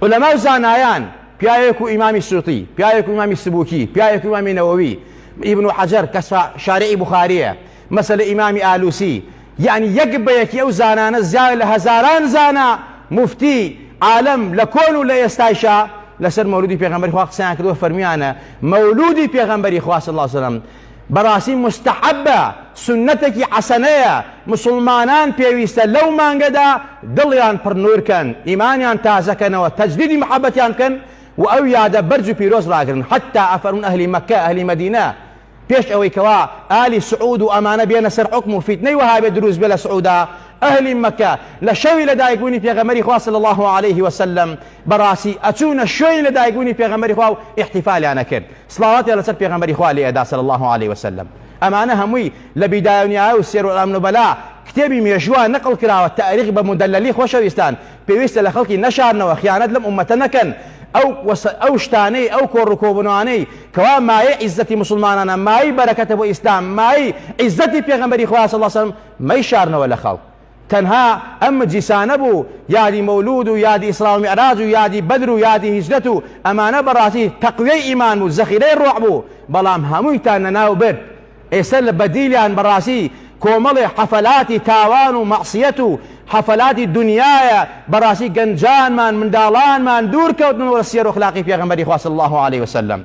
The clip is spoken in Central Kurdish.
علەما و زانایان پیاوێک و ئیمامی سووتی پیاوێک و ئیمامی سبووکی پیاوێک و ئیمامی نەوەوی ئیبن و حەجەر کە شارعی بخاریە مەسەلە ئیمامی ئالوسی یعنی یەک بە یەکی ئەو زانانە زیاوە لە هەزاران زانا مفتی عالم لە کۆن و لە ئێستایشا لەسەر مەولودی پێغمبەری خوا قسەیان کردوە فەرمیانە مەولودی پێغمبەری خواست الله سلام بەڕاستی موستەحەبە، سوننەتەکی حەسەنەیە، موسڵمانان پێویستە لەو مانگەدا دڵیان پڕ نوور کەن، ئیمانیان تازە کەنەوە، تەجدیدی محەبەتیان بکەن و ئەو یادە بەرز و پیرۆز ڕاگرن، حەتتا ئەفەرموون ئەهلی مەککە، ئەهلی مەدینە، پێش ئەوەی کەوا ئالی سعود و ئەمانە بێنە سەر حوکم و فیتنەی وەهابێ دروست بێ لە سعودا، ئەهلی مەککە لە شەوی لە دایک بوونی پێغەمبەری خوا صلی اللە علیه وسلم بەڕاستی ئەچوونە شوێنی لە دایک بوونی پێغەمبەری خوا و ئیحتیفالیان ئەکرد. سڵاواتیان لەسەر پێغەمبەری خوا لێ ئەدا صلی اللە علیە وسلم ئەمانە هەمووی لە بیدایە و نیهایە و سیەر اعلام نوبلا کتێبی مێژووە نقل کراوە تاریخ بە مدللی خۆشەویستان پێویستە لە خەڵکی نەشارنەوە خیانەت لەم ئومەتە نەکەن ئەو ئەو شتانەی ئەو کۆڕ و کۆبوونەوانەی کەوا مایەی عیزەتی موسڵمانانە مایەی بەرەکەتە بۆ ئیسلام مایەی عیزەتی پێغەمبەری خوا صلی اللە علیە وسلم مەیشارنەوە لە خەڵک تەنها ئەم مجیسانە بوو یادی مولود و یادی اسراء و معراج و یادی بدر و یادی هجرت و ئەمانە بەڕاستی تەقویەی ئیمان بوو زەخیرەی ڕۆح بوو بەڵام هەموویتان لەناو برد ئێستا لە بەدیلیان بەڕاستی کۆمەڵێ حەفەلاتی تاوان و مەعسیەت و حەفەلاتی دونیایە بەڕاستی گەنجانمان منداڵانمان دوور کەوتنەوە لە سیەر و اخلاقی پێغەمبەری خوا صلی اللە علیە وسلم.